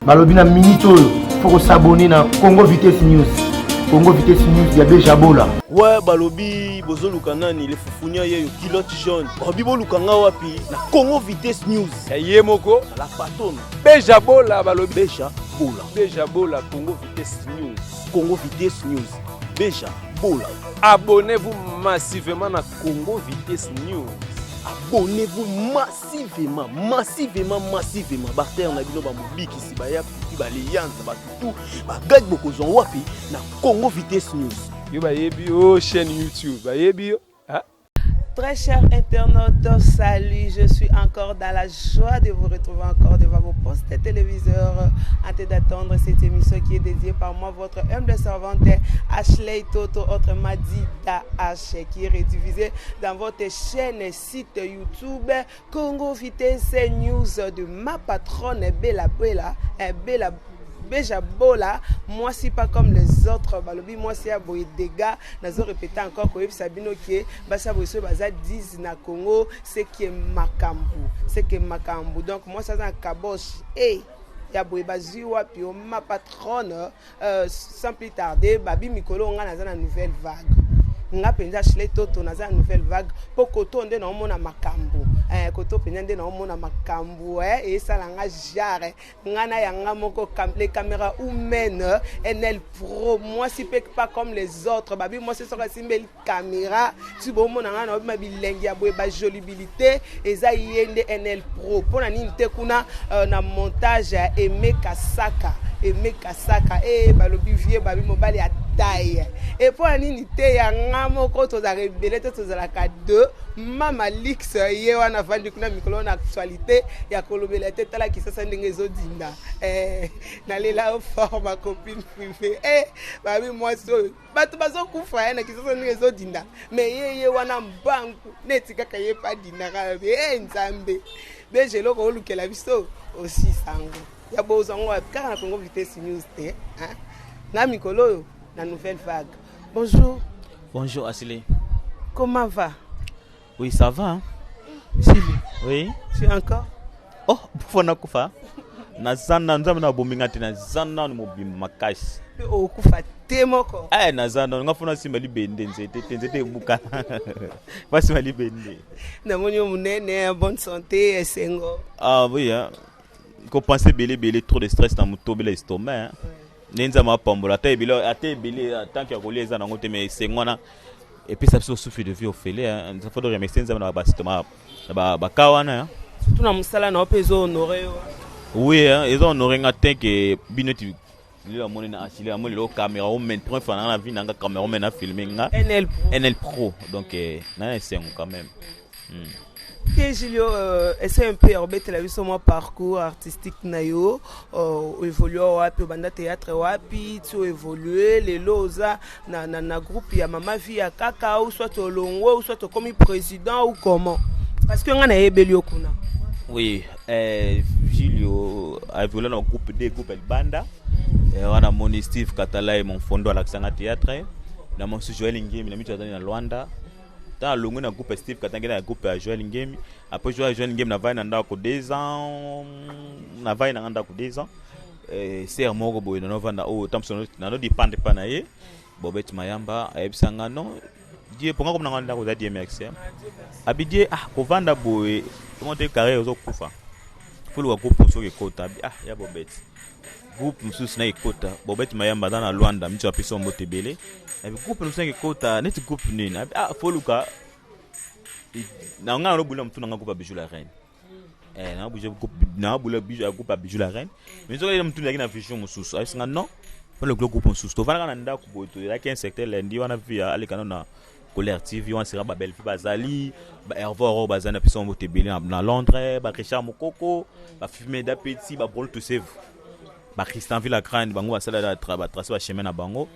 balobi na minute oyo fo kosabone na congo vitesse news congo vitesse news ya bejabola we balobi bozoluka nani le fufunia yeyo kilote jaune balobi boluka nga wapi na congo vitesse news ya ye moko la patone bejabola balobi beja bola beja bola congo vitesse news congo vitesse news beja bola abonnez-vous massivement na congo vitesse news abonnez-vous massivement massivement massivement massivement bartere na bino bamobikisi baya kuti baleyanza batutu bagadi bokozwa wapi na congo vitesse news yo bayebi yo oh, chaîne youtube bayebi yo Très chers internautes, salut, je suis encore dans la joie de vous retrouver encore devant vos postes téléviseurs. Hâtez d'attendre cette émission qui est dédiée par moi, votre humble servante Ashley Toto, autrement dit H, qui est redivisée dans votre chaîne site YouTube Congo Vitesse News de ma patronne Bella Bella eh, Bella beja bola mwasi pas comme les autres balobi mwasi ya boye dega nazo répéter encore koyebisa bino ke basi ya boye soki baza 10 na congo seke makambo seke makambo donc mwasi aza na kabosh e hey, ya boye bazwi wapi o ma patronne Euh, sans plus tarder babi mikolo nga naza na nouvelle vague nga mpenza shle toto naza na nouvelle vague mpo koto nde naomona makambo eh, koto mpenza nde naomona makambo eh, esala nga jare nga na yanga moko cam, les caméra humaine nl pro mwasi mpe pas comme les autres babi mwasi soki asimbeli camera si bomona ngai naobi ma bilengi ya boye bajolibilité eza ye nde nl pro mpo na nini te kuna uh, na montage ya aime kasaka aime kasaka e balobi vie babi mobali ya taille e mpo na nini te ya nga moko tozalaka ebele te tozalaka deux mama lix ye wana avandi kuna mikolo na actualité ya kolobela te tala kisasa ndenge ezodinda eh, nalela yo fort ma copine privé eh, babi mwasi oyo bato bazokufa ya na kisasa ndenge ezodinda me ye ye wana mbangu neti kaka ye mpe adindaka lobi e nzambe deja eloko olukela biso osisango ya bozwa ngo wapi kaka na congo vitesse news te na mikolo oyo na nouvelle vague bonjour bonjour asile comment va Oui, ça va. Hein? Si, oui. Si encore. Oh, pour na kufa. Na zana nzambe na bominga te na zana ni mobimba makasi. Oh, kufa te moko. Eh, na zana nga fona simba libende nzete te nzete ebuka. Ba simba libende. Na moni munene bonne santé esengo. Ah oui, hein. Ko penser belé belé trop de stress na mutobela estomac. Hein. Oui. nde nzambe apambola ata ebele ata ebele tanke ya kolia eza nango te mais esengo wana epesa biso souffle de vie ofele fo toremercie nzambe na basito na baka wana surtout na mosala na yo mpe ezo honore yo oui ezo honore nga te ke bino ti lelo amoni na asile yango lelo cameraman point fananga na vie nanga cameraman afilme nga nl pro donc eh, na esengo quand même Hmm. Te Julio, euh, essaie un peu ya kobetela biso mwa parcours artistique na yo euh, oevolue wapi obanda théâtre wapi ti oevolue lelo oza na, na, na groupe ya mama vie ya kaka ou soit olongwe ou soit okomi président ou comment parce que ngai nayebeli yo kuna oui eh, Julio aevolue na groupe de groupe ya libanda eh, wana moni steve katala ye mon fondo alakisanga théâtre na mosusu joel ngemi na mitu azali na luanda ntango alongwe na groupe ya steve katanga na groupe ya joel ngemi après joel joel ngemi navai na ndako deux ans navai nanga ndako deux ans eh, ser moko boye nanovanda oyo oh, tamso nano dependre mpa na ye bobeti mayamba ayebisa nga non die mponga komi nanga ndako eza die merci eh. abi die ah kovanda boye omonte carrière ozokufa foluka groupe soki ekota abi ah ya bobeti groupe mosusu na ekota bobeti mayamba aza na lwanda miti apesi yo mbote ebele nabi groupe mosusu na ekota neti groupe nini nabi ah foluka na ngai nalobula motu na ngai groupe ya bijou la reine eh, nabula ya groupe ya bijou la reine mais soki motu ezalaki na vision mosusu ayebisi ngai non mpona lokilo groupe mosusu tofandaka na ndako boye toyelaki un secteur lundi wana vi alekana na Colère TV wana sera ba Bellevue bazali ba Hervé Aurore bazali na biso mbote ebele na- na Londres ba Richard Mokoko ba Fimeda Petit ba Brol Tosevu ba Christian Villa Grande bango basala la tra ba tracer ba chemin na bango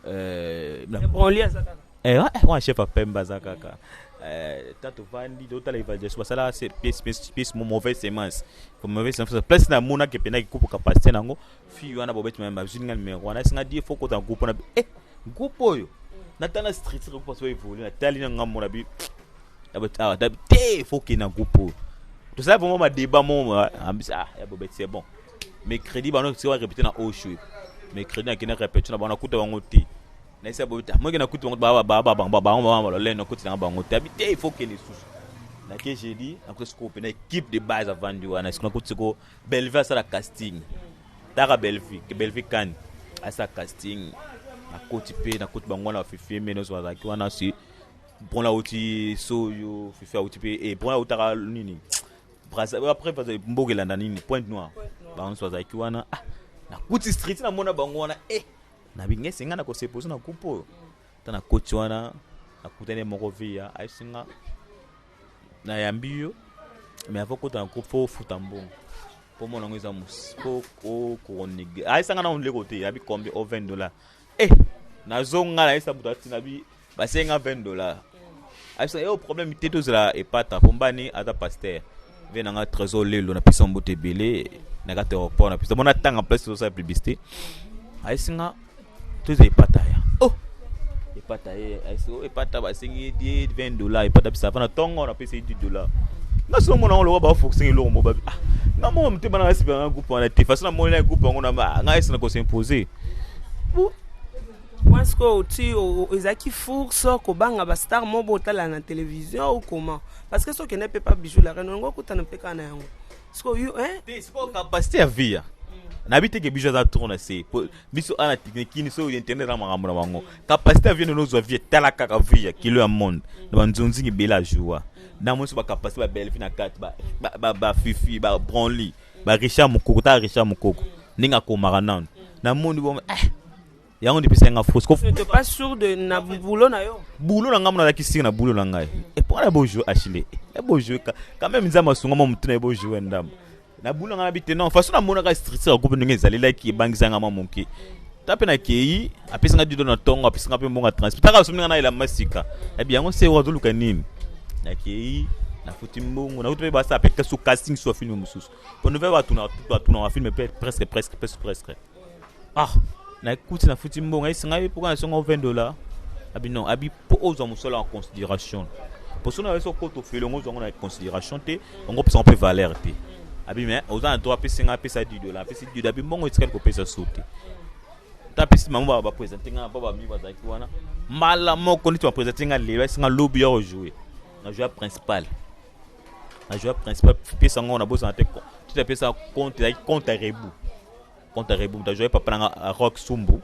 euh na- Branly aza kaka. eh wa- eh, wana chef ya Pemba aza kaka euh tato vandi do tala evaluation basala se pièce pièce pièce mo- mauvaise semence comme mauvaise semence place na mona ke pena ki kupu capacité nango fille wana bobeti mayamba azwi nga numero wana esi nga die fo kota groupe wana eh groupe oyo natala structure groupe aso evolue natali na nga mona bi awa dabi te fo kende na groupe oyo tosala vraiment badeba mo ambisi ah ya bobeti c'est bon mais crédit bano sika barepete na oshwe mais crédit nakende repete na bango nakuta bango te naisa bobeti ah, moke nakuta bango bango balolene nakuti nanga bango te abi te fo kende lisusu nake jeudi nakuta sikoyo mpe na équipe de base avandi wana siko nakuti sikoyo Bellevue asala casting taka Bellevue ke Bellevue kani asala casting nakoti mpe nakoti bango wana bafifie mbe nyonso bazalaki wana si bon auti soyo fifi auti mpe e bon autaka nini après mboka elanda nini pointe noire bango nyonso bazalaki wana ah, nakuti street namona bango wana e eh, nabingi esenga na koseposo na kupe oyo ta nakoti wana nakutani moko via ayesinga nayambi yo mais avant kota na groupe fo ofuta mbongo po mona yango eza mosi po okonege ayesanga nango ndeko te yabi combien o 20 dollar e eh, nazonga nayesa moto atina bi basenga 20 dollar ayebisanga yo problème te tozela epata po mbani aza pasteur ve nanga trésor lelo napesa mbote ebele na kati aéroport napesa bona tanga place tozosala publicité ayesinga toza epata ya oh epata ye eh, eh, oh, epata basengi ye die 20 dollar epata bisa afana ntongo na pesa ye 10 dollar nga solo mona ngo lokola bafokusenga eloko mo babi ah nga moko motema nanga sipa nga groupe wana te façon namoni na groupe yango na ah, nga esi na kosimposer moi ce que oti ezalaki four so kobanga bastar mo botala na télévision ou comment parce que soki ende mpe pa bijou la reine olingo okutana mpe kaka na yango siko yo hein te siko capacité ya via nayebi te ke biso aza trop na se po biso ana teknikini so internet na makambo na bango kapasite ya vie nini ozwa vie tala kaka vie ya kilo ya monde na banzonzingi ebele ajoua na mwinso bakapasite babelvi na kati bafifi babronly ba richard mokoko tala richard mokoko ndenge akomaka nano namoni bongo eh, yango nde epesaki nga fausse kof n'étais pas sûr de na boulot na yo bulo na ngai monalaki sika na bulo na ngai epo wana bojoue achile ebojoue quand même nzambe asunga mwa motu na ebojoue ndambo na bulo na ngai nabi te non façon namonaka structure ya groupe ndenge ezalelaki ebangisa nga mwa moke ta mpe nakei apesi nga dido na ntongo apesi nga mpe mbongo ya transport taka asombi nga na elamba sika nabi yango se wazoluka nini nakei nafuti mbongo nakuti mpe basala mpe kasu casting so ya filme mosusu mpo nove batunaka batunaka filme mpe presque presque presque presque ah nakuti nafuti mbongo ayesi ngai mpoka na songo 20 dollar abi non abi mpo ozwa mosala en considération mpo soki nayesi okota ofele yango ozwa yango na considération te yango opesa yango mpe valeur te abi me oza na droit apesi ngai apesa 10 dollar apesi 10 dollar abi mbongo etikali kopesa so te ta apesi bango bapresente ngai mpo bami bazalaki wana mbala moko neti bapresente ngai lelo ayesi ngai lobi ya ojoue na joue principal na joue principal pesa yango na bosana te tete apesa compte ezalaki compte ya rebu Contre Rebu, moto ajouaki papa na nga euh, Rock Sumbu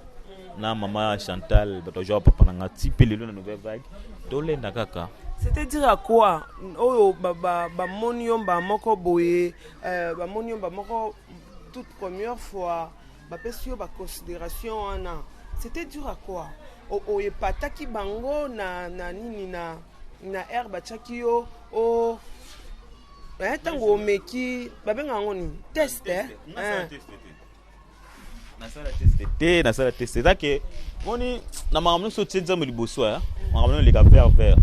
na mama Chantal, bato ajouaka papa na nga ti pe lelo na nouvelle vague. Tolenda kaka. c'est-à-dire à quoi oyo bamoni yo mbaa moko boye euh, bamoni yo mbaa moko toute première fois bapesi yo baconsidération wana c'était dur à quoi oyo epataki bango na, na nini na, na aire batiaki yo o eh, ntango omeki babenga yango nini test eh? Eh. nasala teste te nasala teste eza ke moni na makambo nyonso otie nzambe liboso ya makambo nyonso eleka vert vert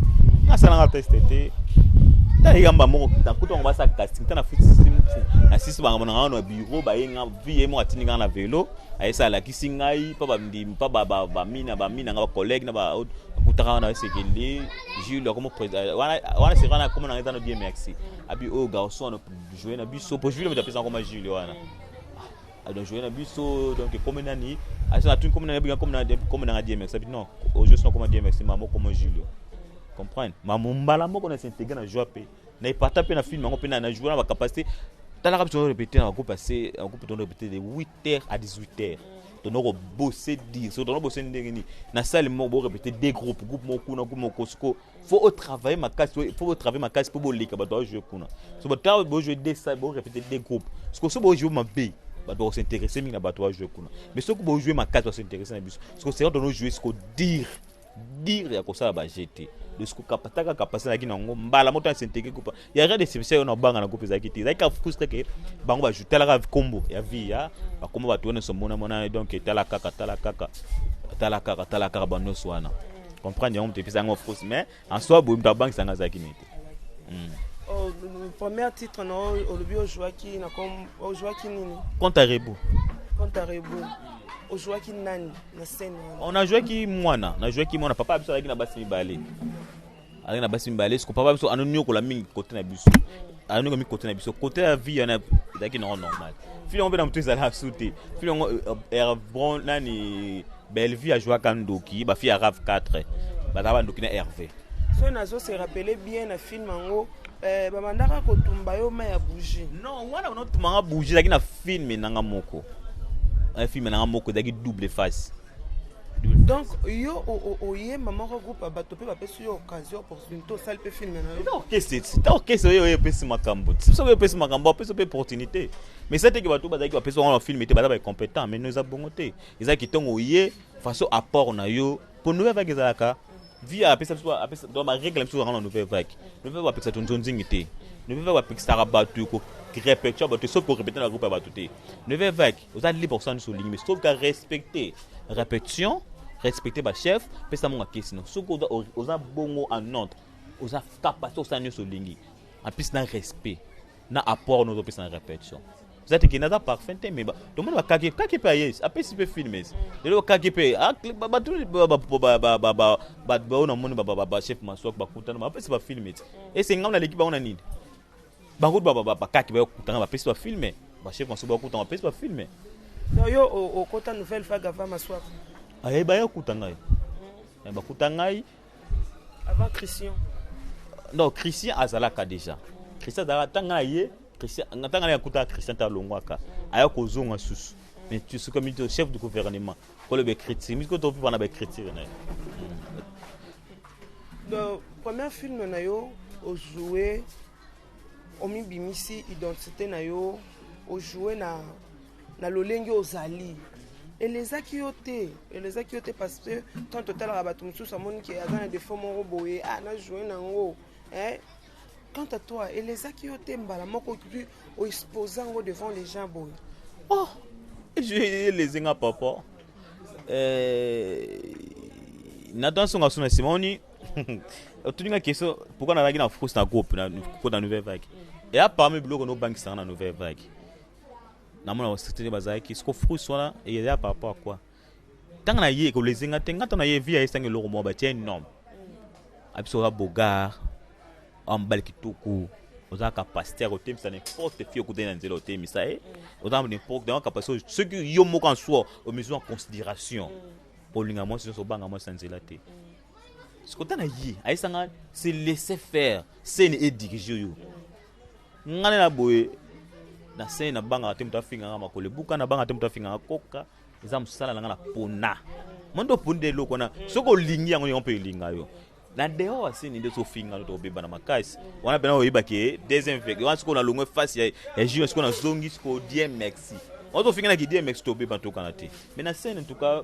nasalanga teste te tala eyamba moko nakuta bango basala casting ta nasisi bango na ngai na biro baye nga vi ye moko atindi ngai na velo ayesa alakisi ngai mpa bamdimi mpa bamina bamina ngai bacollege na bakutaka wana esekende Jules akomo président wana wana c'est wana comme na ngeta no Dieu merci abi oyo garçon no jouer na biso pour Jules mutapesa ngoma Jules wana ah, donc jouer na biso donc comme nani asa na tuni comme nani bien comme na comme na Dieu merci abi non au juste comme Dieu merci maman comme Jules comprendre maman mbala moko na s'intégrer na joie pe na epata pe na film yango pe na na jouer na ba capacité talaka biso répéter na groupe assez groupe tono répéter de 8 8h à 18h tono ko bosser dire so tono bosser ndenge ni na salle moko bo répéter deux groupes groupe moko kuna groupe moko siko faut au travailler ma casse faut au travailler ma casse pour bolika ba doit jouer kuna so ba travailler bo jouer deux salles bo répéter deux groupes siko so bo jouer ma B ba doit s'intéresser mingi na ba doit jouer kuna mais soko bo jouer ma casse ba s'intéresser na biso siko c'est quand on joue siko dire dire ya kosala ba jeu te kapataka kapasite naki nango mbala moto asenteke kupa ya rien de spécial na obanga na groupe ezalaki te ezalaki kafrustre ke bango bajutalaka kombo ya vie ya bakombo bato wana somona mona donc etala kaka tala kaka tala kaka tala kaka banyonso wana comprendre yango moto epesa yango fausse mais en soi boye moto abangisa yango azalaki nete Oh, le premier titre na oyo olobi ojuaki na kom- ojuaki nini Compte à rebours. compte à rebours ojuaki nani na scène wana On a joué qui mwana, on a joué qui mwana. Papa biso alaki na basi mibale. Alaki na basi mibale, siko papa biso anoniokola mingi kote na biso. Anoniokola mingi kote na biso. Kote ya vie yana ezalaki nango normal. Fille yango mpe na moto ezalaka su te. Fille yango eh, eh, bon nani Bellevue ajouaka ndoki ba fille ya rave 4 baza ba ndoki na Hervé. So nazo se rappeler bien na film yango eh, babandaka kotumba yo ma ya bougie. Non, wana banotuma nga bougie ezalaki na film na nga moko. Un film na nga moko ezalaki double face. donc yo oyemba moko groupe ya bato mpe bapesi yo occasion opportunité osali mpe filme na yoorchestre oyo oyo epesi makambo ti soki epesi makambo apesi mpe opportunité mais sa teke bato bazalaki bapesi wango na filme te baza bacompétent mais no eza bongo te Eza kitongo ye façon apport na yo pour nous avec ezalaka via apesa biso apesa donc ba règle biso na nouvelle vague nouvelle vague apesa tonzo nzingi te nouvelle vague apesa batu ko répéter batu sauf ko répéter na groupe ya batu te nouvelle vague oza libre kusana biso olingi mais sauf ka respecter répétition respecter ba chef pesa monga kesi no soki oza oza bongo en ordre oza capacité kusana nyonso olingi en plus na respect na apport nozopesa na répétition eza te ke naza parfum te me tomoni bakake kake mpe ayesi apesi mpe filmes lelo kake mpe bato baoyo namoni bachef maswak bakutana bapesi bafilme ti esengam naleki bango na nini bango bakake bakutana bapesi bafilme bachef maswak bakutana bapesi bafilme yo okota nouvelle fagava maswak ayeba ye akuta ngai bakuta ngai Avant Christian. Non, Christian azalaka déjà. Christian azalaka tanga na ye, Christian tanga na yakuta Christian ta longwaka. Aya kozonga susu. Mais tu sais comme le chef du gouvernement, ko le critique, mais ko to pona ba critique na. Le premier film na yo au jouer omibimisi identité na yo ojoue na na lolenge ozali elezaki yo te elezaki yo te parce que tant totalaka bato mosusu amoni ke aza na defo moko boye ah na joue nango eh? quant à toi elezaki yo te mbala moko tu oexpose yango devant les gens boye oh elezi nga papa eh, natan songa suna nsima oni otuni nga question pourkui nazalaki na france na groupe kota nouvelle vague eya parmi biloko nobangisaka na nouvelle vague namona basekte nde bazalaki siko frus wana eza par rapport à quoi ntango na ye ekolezi nga te nga ntango na ye vi ya esangi eloko moko batie nom abiso oza bogar oa mobali kitoko oza capacité ya kotemisa n'importe fille okutani na nzela otemisa ye oza n'importe yango capacité soki yo moko en soi omizwi en considération olinga mwasi nyonso obanga mwasi na nzela te sikota na ye ayesanga se laisser faire sene edirige yo nga nde na boye na sene nabangaka te moto afingaka makolo ebuka nabangaka te moto afingaka koka eza mosala na nga na pona mwa nde oponi nde eloko wana soki olingi yango yango mpe elinga yo na dehors asini nde sofinga no tokobeba na makasi wana mpena oyeba ke deuxième vege wana sikoyo nalongwe face ya, ya junior sikoyo nazongi sikoyo die mexi wana tofinga na kidie mexi tobeba tokana te mais na scène en tout cas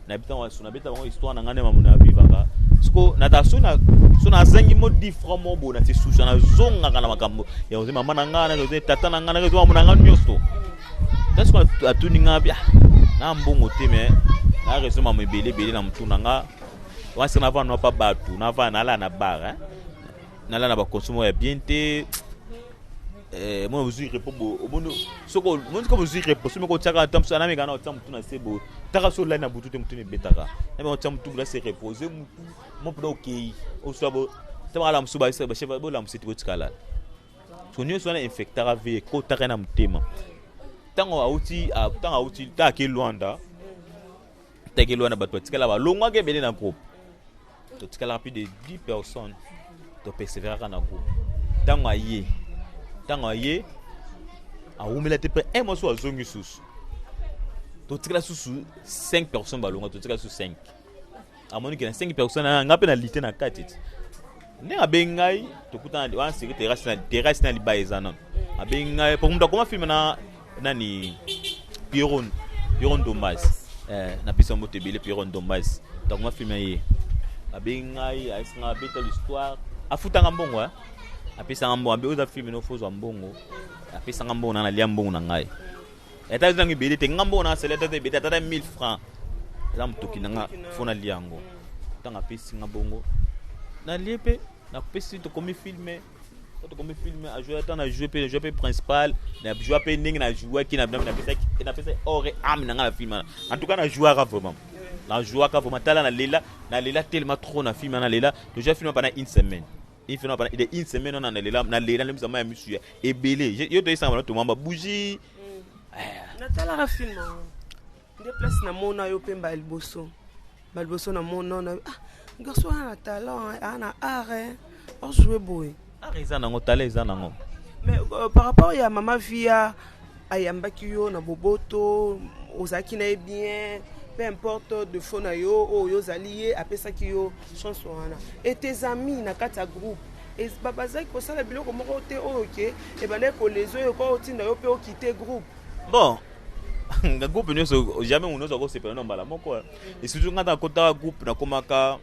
na bita wa suna beta bango histoire na ngane mamuna vivaka siko na ta suna suna zangi mo different mo bona ti susa na zonga kana makambo ya oze mama na ngana na oze tata na ngana na oze mama na ngana nyosto ta siko atuni nga bia na mbongo te me na rezo mama ebele ebele na mutuna nga wasi na vana pa batu na vana ala na bar hein na la na ba consomo ya bien te Eh, mwana bozwi repo bo omoni soki omoni soki bozwi repo soki moko otyaka ata mosusu ana mekana otya motu na se bo taka so olali na butu te motu nebetaka na meka otya motu na se repo ozwi motu mo mpenza okei oswa bo ta bakala mosusu bachef bolamusi te botikalala so nyonso wana infectaka ve ekotaka na motema ntango auti ntango auti ntango akei lwanda tegelo wana bato batikala balongwaka ebele na groupe totikalaka plus de 10 personnes toperseveraka na groupe ntango aye ntango aye awumela te mpe un mois so azongi susu totikala susu 5 personnes balonga totikala susu 5 amoni ke na 5 personnes aya nga mpe na lite na kati ti ndenge abengi ngai tokutana wana seke terasi na libaya eza nano abengi ngai po moto akoma filme na nani pierron pierron dombas eh, na pesa mbote ebele pierron dombas moto akoma filme ye abengi ngai ayesi ngai abeta l'histoire afutanga mbongo eh? apesanga mbongo abe oza filme nofo ozwa mbongo apesanga mbongo na nalia mbongo na ngai Eta ezangi ebele te nga mbo na sele tata ebele tata 1000 francs eza motoki na nga fo nalia yango ntango apesi nga bongo nalie mpe napesi tokomi filme quand tokomi film ajouer ata na joue mpe joue mpe principal na joue mpe ndenge na jouaki napesa ore ame na nga na film wana en tout cas na jouaka vraiment na jouaka vraiment tala na lela na lela telema trop na film wana na lela tojoua film mpana une semaine ife na bana de une semaine wana na lela na lela lemisa maya misu ya ebele Je- yo toyesanga bana tomamba bougie natalaka film yango nde place namona yo mpe mbala liboso mbala liboso namona na ah, garso wana na talent eh, aa na art eh, ojoue boye art eza nango tala eza nango mais euh, par rapport ya mama via ayambaki yo na boboto ozalaki na ye bien peu importe defo na yo oyo oh, yo ozali ye apesaki yo chance wana et tes amis na kati ya groupe bazalaki kosala biloko moko te oyo oh, ke ebandaki koleza oyo kwa otinda yo mpe okite groupe bon nga groupe nyonso jamais moto nyonso akosepela na mbala moko et surtout nga ntango akotaka groupe nakomaka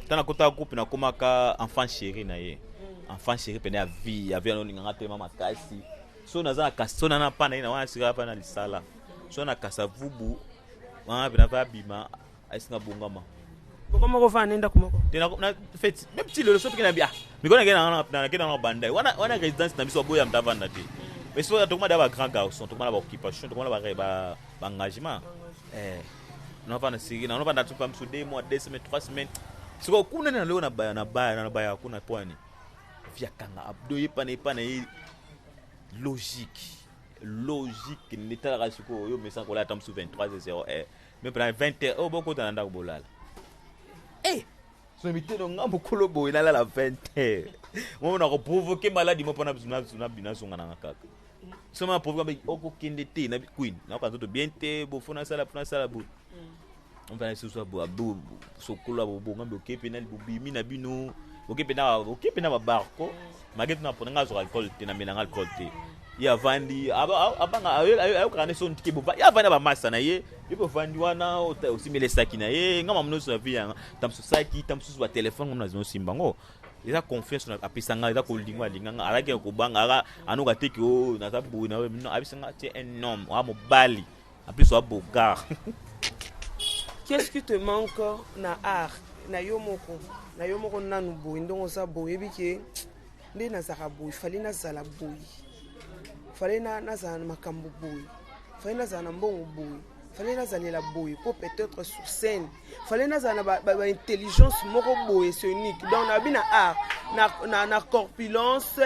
ntango akotaka groupe nakomaka enfant chéri na ye mm. enfant chéri mpena ya vie ya vie yanolinganga telema makasi so naza na kasi so na na pana ina wana sika pana lisala so na kasa vubu wana pena pa bima asinga bongama boko moko fa nenda kumoko te na na feti même si le so pekena bia mikona kena na na kena na bandai wana wana résidence na biso boya mtava na te mais so tokoma da ba grand garçon tokoma na ba occupation tokoma na ba ba ba engagement eh na fa na sigi na na fa na tupa msu deux mois deux semaines trois semaines siko kuna na leo na baya na baya na baya kuna pwani via kanga abdo ye pana ye pana ye logique logique nde talaka sikoyo oyo omesana kolala ata mosusu 23 0 eh. me mpena 20 heure oyo bokota na ndako bolala eh. so miteno nga mokolo boye nalala 20 heure momona koprovoke maladi mo mpona nazongananga kaka soma provoke okokende te na queen nakoka nzoto bien te bofo nasala mpo nasala boye omvana lisusu sokola bobonga boke mpe na bobimi na bino boke mpe na boke mpe na babarco mage tuna mpona ngai azoka alcool te na melanga alcool te ye avandi abanga ayokaka nde soni tike bovandi ye avandi na bamasa na ye ye bovandi wana osimela esaki na ye ngai mamu nyonso na vie yanga ta mosusu saki ta mosusu batelefone ngai nazima osimba yango eza confiance na apesa ngai eza kolinga alinga ngai alaki ya kobanga aka anoka te ke o naza boye na abisa ngai te un homme oa mobali En plus wa bogar. Qu'est-ce qui te manque na art na yo moko na yo moko nanu boye ndongo oza boye oyebi ke nde nazalaka boye fale nazala boye fale nazala na makambo boye fale nazala na mbongo boye fale nazalela boye mpo peut-être sur scène fale nazala na baintelligence ba, ba moko boye sonique donc nabi na art na, na, na corpulence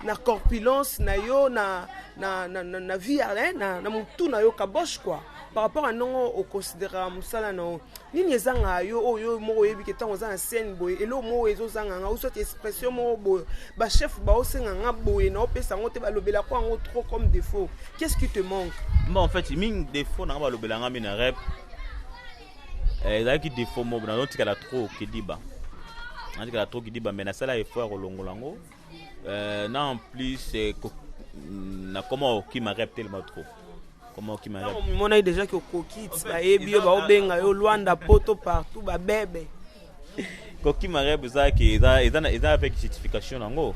na corpulence na yo na, na, na, na, na vie eh, na, na motu na yo kaboche quoi par rapport à ndongo oconsideraka mosala na yo nini ezanga yo oyo oh, moko oyebi ke ntango oza na scène boye eloko moko ezozanga nga osoti expression moko boye bachef baosenga nga boye na opesa yango te balobelako yango trop comme défaut qu'est ce qui te manque ma en fait mingi défaut nanga balobela nga mi na rep Eh, ezalaki defaut moko nazotikala trop kidiba natikala trop kidiba mais nasala effort ya kolongola yango eh, na en plus eh, mm, nakoma kokima rep telema trop omonaki déjà ke okoki ti bayebi yo baobenga yo lwanda poto partout babebe kokima rep ezalaki eza avec justification yango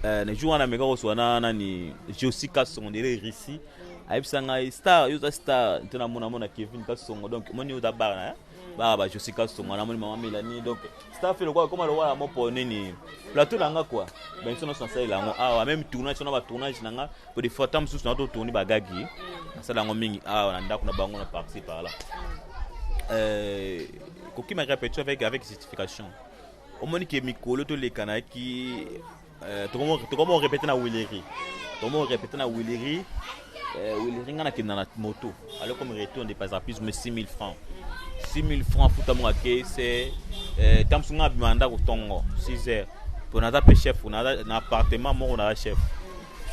na jour wana meka koswa na nani josi kasongo ndele russie ayebisa ngai star yo oza star nte namona mona kevin kasongo donc moni oza bara na baa ba josi kasongo namoni mama melani donc star fe lokola koma lokola mopo nini plateau na nga kua bamiso nyonso nasalela yango awa meme tournage wana batournage na nga po de fois ta mosusu na totourni bagagi nasala yango mingi awa na ndako na bango na parti par là euh, kokima repetition avec, avec justification omoni ke mikolo toleka nayaki Eh, tokomi orepete na wileri tokomi orepete na wileri eh, wileri ngai nakenda na moto ale comme retour nde pasa plus me 6000 francs 6000 francs futa monga ke se eh, ntango mosusu ngai abima ndako ntongo 6 heures mpo naza mpe chef na appartement moko naza chef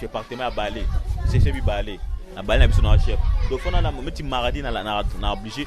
je appartement ya bale seche bibale na bale na biso naza chef donc fona na meti maradi na oblige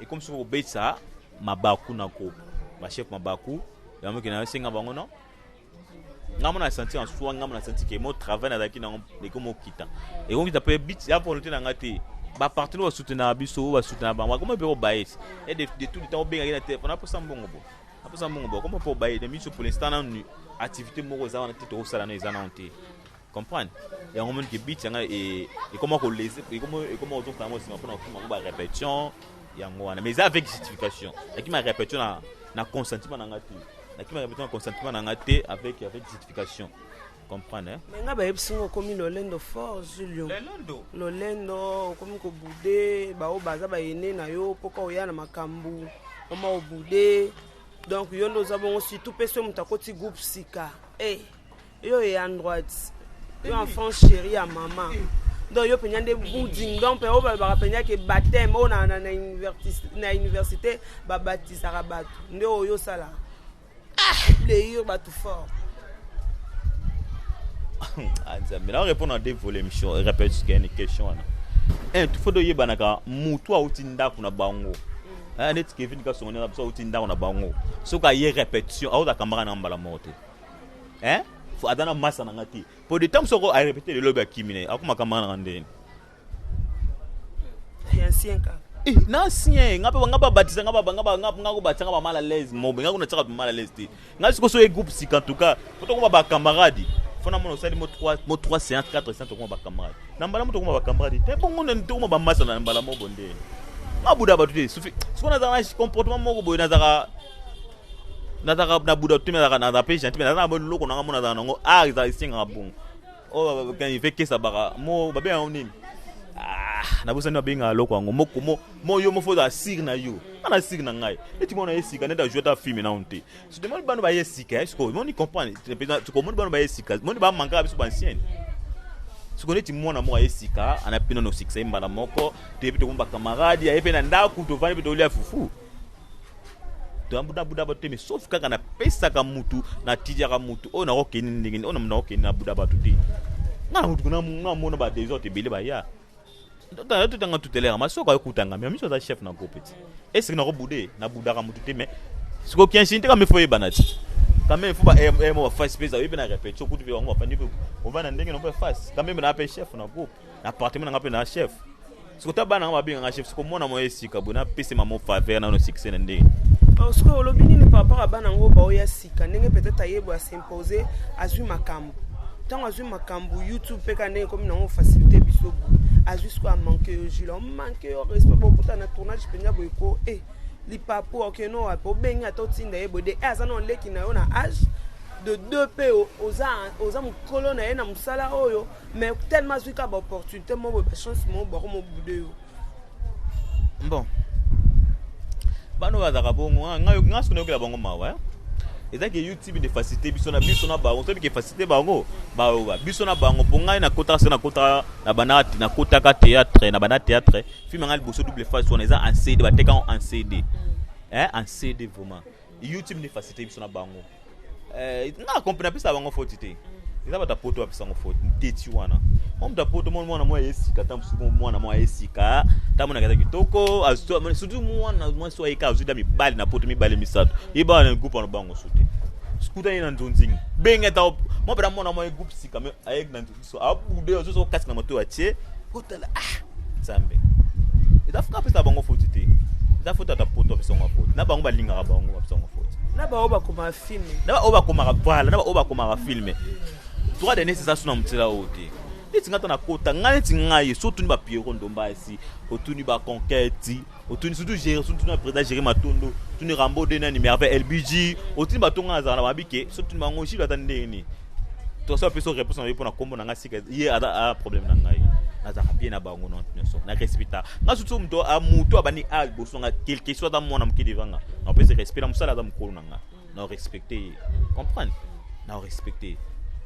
ekomi soki kobetisa mabaku na ko bachef mabaku yango ke nasenga bango no ngai mona santi en soi ngai mona santi ke mo travail nazalaki nango ekomi okita ekokita mpe bit ya volonté na ngai te bapartene oyo basutenaka biso oyo basutenaka bango akoma mpe obayesi e de tout le temps obengaki na telefone aposa mbongo bo aposa mbongo bo akoma mpe obaye na miso pour l'instant nanu activité moko eza wana te tokosala na eza nano te Comprendre? yango omoni ke beat yanga ekoma kolese ekoma kozongisa yango nsima mpo na kokima yango barepétition yango wana mais eza avec justification nakima répétition na, na consentement na nga te nakima répétition na consentement na nga te avec, avec justification comprendre hein? mais nga bayebisi nga okomi lolendo fort julio lolendo lolendo okomi kobude baoyo baza bayene na yo mpoka oya na makambo oma obude donc yo nde oza bongo surtout mpe so moto akoti groupe sika e hey. Yo et en droite. Yo en France chérie à maman. donc yo mpenza nde buding donc mpe oyo balobaka mpenza ke bateme oyo na université babatisaka bato nde oyo osalaka plaire ah! bato fort ah, nzambe na répondre na deux volet mission répète kene question wana un tout faut toyebanaka motu auti ndako na bango mm. eh, neti kevin kasongo ndenge biso auti ndako na bango soki aye répétition aoza kamaka na mbala moko te hein fo aza na masa na nga te po de temps soko a répéter le lobi akimi na akoma kama na ndeni ya ancien ka eh na ancien nga pe nga ba batisa nga ba nga ba nga ko batisa nga ba mal à l'aise mo nga ko na tsaka mal à l'aise te nga siko so e groupe sika en tout cas faut ko ba camarade fona mona osali mo 3 mo 3 séance 4 séance tokoma ba camarade na mbala mo tokoma ba camarade te bongo na tokoma ba masa na mbala mo bonde nga buda ba tude sufi siko na za na comportement moko boye na za nazalaka na buda to nazalaka nazalaka mpe gentil nazalaka na eloko nanga mo nazalaka nango art ezala esengaka bongo oyo ife kesa baka mo babe yango nini ah, nabosani babengaka eloko yango mokomo mo yo mofo ozala sire na yo ana sire na ngai neti mona ye sika neti ajoueta filme nano te sotemoni bano baye sika sikoyo moni comprendre tokomoni bano baye sika moni bamankaka biso bancienne sikoyo neti mwana moko aye sika anayebi mpe nano sikisa ye mbala moko toyebi tokomi bacamarade aye mpe na ndako tovandi mpe tolia fufu toyabudabuda bato te mais sauf kaka napesaka mutu natijaka mutu oyo nakokende ndenge nini oyo nakokende nabuda bato te nga na mutu namona ba desordre ebele baya totanga tutelera masoko ayokutanga mais miso aza chef na groupe ti esiki nakobude nabudaka mutu te mais sikoyo kianshini te kame fo oyebana ti kame fo baemo bafasi mpe ezaoyebi na repetition kutu mpe bango bafandi mpe ovanda ndenge na mpe fasi kame mpe na mpe chef na groupe na appartement na nga mpe na chef siko ta bana nga babenga nga chef siko mwana moya esika boye napese mamo faveur nano succès na ndenge oh, sikoyo olobi nini par rapport ya bana yango baoya sika ndenge peut-être ayebo asimpose azwi makambo ntango azwi makambo youtube mpe ka ndenge ekomi nango facilité biso boye azwi sikoyo amanke yo jule omanke yo respect bokuta na tournage mpenza boye ko e eh, lipapu okeno wapi obengi ata otinda ye boye de e eh, aza na oleki na yo na age de deux mpe oza, oza mokolo na ye na mosala oyo mais tellement azwi kaka baopportunité moko boye bachance moko bako mobude yo bon bana oyo bazalaka bongo ah, ngai soki nayokela bango mawa eh? eza ke youtube nde facilité biso na biso na bango toyebi ke facilité bango bayoka biso na bango mpo ngai nakotaka soki nakotaka na bana nakotaka théâtre na bana théâtre filme ngai liboso double face wana eza en cd batekaka en cd eh, en cd vraiment YouTube nde facilité biso na bango eh, nga compris napesa bango faute te eza bato ya poto bapesa yango faute nteti wana mwa moto ya poto moni mwana mwa esika ntango mosusu mwana mwa esika ntango monaka eza kitoko surtout mwana mwasi oyo ayeka azwi da mibali na poto mibale misato yeba wana groupe wana bango su te sikutani na nzonzingi benge ata mwa mpena mwana mwa groupe sika me ayeki na so abude ozo zo kasi na moto atie otala ah nzambe eza fuka pesa bango foti te eza foti ata poto bisongo foti na bango balingaka bango bisongo foti na baoyo bakomaka filme na baoyo bakomaka bala na baoyo bakomaka filme droit de nesi eza so na motela oyo te neti ngai ata nakota ngai neti ngai so otuni bapiero ndomba esi otuni baconquete otuni surtout gérer surtout na président gérer matondo tuni rambo de nani merveille lbg otuni bato ngai azala na babi ke so tuni bango jilo ata ndenge nini tosi bapesa réponse na yo mpo na nkombo na ngai sika ye aza problème na ngai nazalaka bien na bango nyonso na respecta ngai surtout moto moto abandi a liboso na ngai quelque soit aza mwana moke devant ngai napesi respect na mosala aza mokolo na ngai na respecte ye comprendre na respecte ye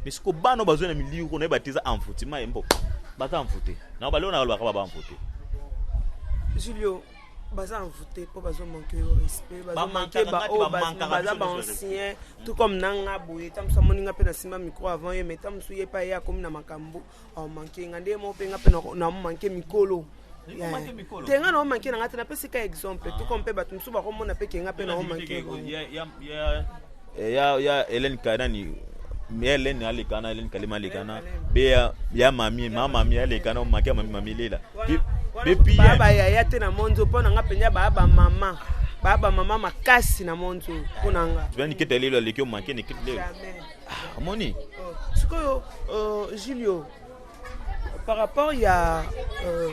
mais siko bana bazwi na milieu kuna yeba te eza envoutiment ye mpo baza envoute na baleo na balobaka baba envoute julio baza envoute mpo bazomanke yo respect bazomanke baoyo baza baancien tout comme nanga boye ta mosu amoni nga mpe nasimba micro avant ye mais ta mosu ye mpe aye akomi na makambo Oh, manke nga nde mo mpe nga mpe na manke mikolo te nga na manke na nga te napesi ka exemple tuko mpe bato mosusu bakomona mpe ke nga mpe na manke ya hélène karani hélène alekana hélène kalema alekana be ya mami ma mami alekana omaki ya mami mami lela baba yaya te na monzo mpo na nga mpenza baa bamama baa bamama makasi na monzo mpo na nga niketa lelo aleki omake niketa lelo Ah, omoni oh, sikoyo uh, julio par rapport ya uh,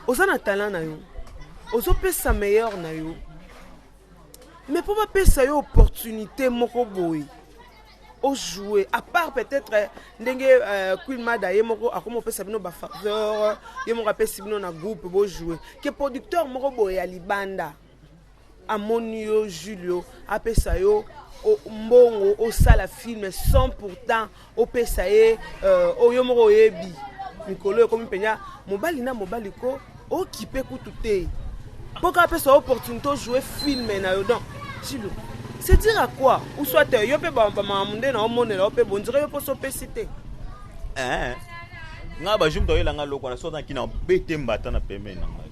oza na talent na yo ozopesa meilleur na yo mais mpo bapesa yo opportunité moko boye ojoue à part peut-être eh, ndenge euh, queen mada ye moko akoma opesa bino bafaveur ye moko apesi bino na groupe bojoue ke producteur moko boye ya libanda amoni yo julio apesa yo mbongo osala filme sans pourtant opesa ye euh, oyo moko oyebi mikolo oyo ekomi mpenza mobali na mobali ko okipe kutu te mpo kaka apesa yo opportunité ojoue filme na yo donc chilo c'est dire à quoi ou soit euh, yo mpe bamakambo nde na omonela yo mpe bondire yo mposo opesi te eh, ngai bajour moto ayelanga loko wana soki azalaki na bete mbata na pembeni na ngai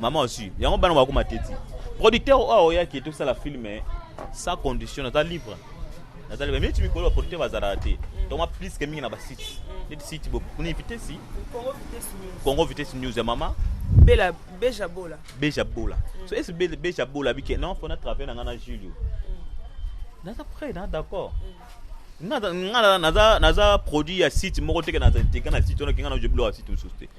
Maman aussi, yango bana ba kuma teti. Producteur oyo oyaki to sala film eh, sans condition naza libre. Naza libre mais tu mikolo producteur bazala te. Donc ma plus que mingi na ba sites. Net site bo kuni vitesse. Congo Vitesse News. Congo Vitesse News ya mama. Bela Beja Bola. Beja Bola. Mm. So est Bela Beja Bola bike non faut na travailler na ngana Julio. Mm. Naza prêt, na d'accord. Mm. Naza naza naza produit ya site moko teke naza teke na site on a kinga na joblo ya site mosusu te.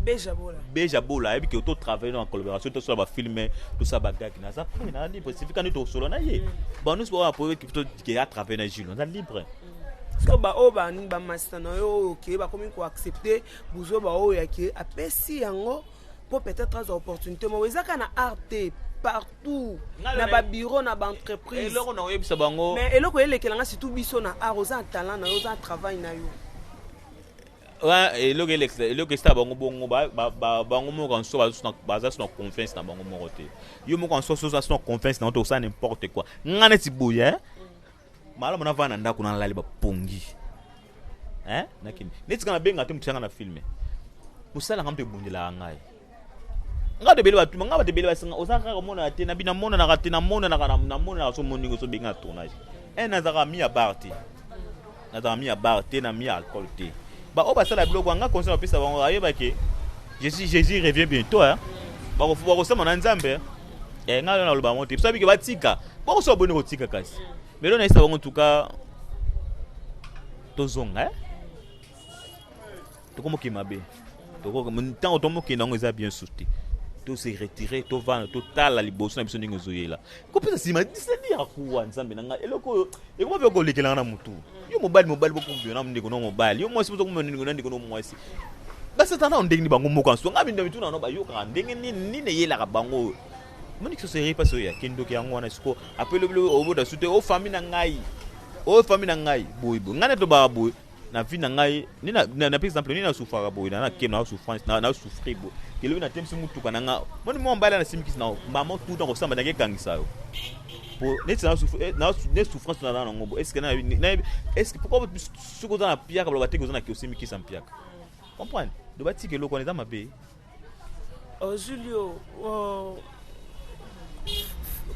Beja Bola. Beja Bola ayebi ke to travailler en collaboration to sala ba films to sala ba gag na za pe na libre c'est quand to solo na ye. Ba nous ba pour que to ke a travailler na Jules na libre. Siko ba oyo ba ba masta na yo oyo ke ba komi ko accepter buzo ba oyo ya ke apesi yango po peut-être aza opportunité mo ezaka na art te partout na babiro na baentreprise eloko na oyebisa bango mais eloko elekela nga surtout biso na art oza na talent na yo oza na travail na yo wana eloko elekisa eloko esala bango bongo bango moko en soi baza suna confiance na bango moko te yo moko en soi oza suna confiance na yo te osala n'importe quoi nga neti boye eh? malamu navanda na ndako nalali bapongi eh? nakende neti nga nabenga te motianga na filme mosalanga mpe ebundelaka ngai nga tebele batuma nga batebele basinga oza kaka omonaka te na bino amonanaka te namonanaka namonanaka so moni ngo so bengi na tournage un nazalaka mi ya bar te nazalaka mi ya bar te na mi ya alcool te baoyo basala biloko yanga conseil bapesa bango ayebake jésus jésus revient bientôt hein bakosama na nzambe eh, ngai lona aloba yango te biso abike batika bakosoba boni kotika kasi me lona yesa bango tuka tozonga eh? tokomoke mabe ntango tomokende yango eza bien sur te tose retire tovanda totala liboso na biso ndenge ezoyela kopesa nsima disedi ya kuwa nzambe na ngai eloko oyo ekoma mpe kolekelanga na motu yo mobali mobali bokumbio na ndeko na mobali yo mwasi bozokumbio ndeko na ndeko na mwasi basatana nao ndenge nini bango moko nso ngai bindo mituna no bayokaka ndenge nini nini eyelaka bango oyo moni kisoseri mpasi oyo yake ndoki yango wana siko apelobilo obota su te o fami na ngai o fami na ngai boye boye ngai netobaka boye na vie na ngai nde na, na, na exemple nde nasufaka boye na nake na souffrance na, na souffrir boye kelobi na temisi motuka na nga moni mwa mbali na simikisi na mama tout temps kosamba nake ekangisa yo po neti na eh, souffrance na na ngo est-ce que na est-ce que pourquoi soki oza na piaka baloba te oza na ke osimikisa mpiaka comprendre loba tika eloko wana eza mabe Oh, Julio, oh,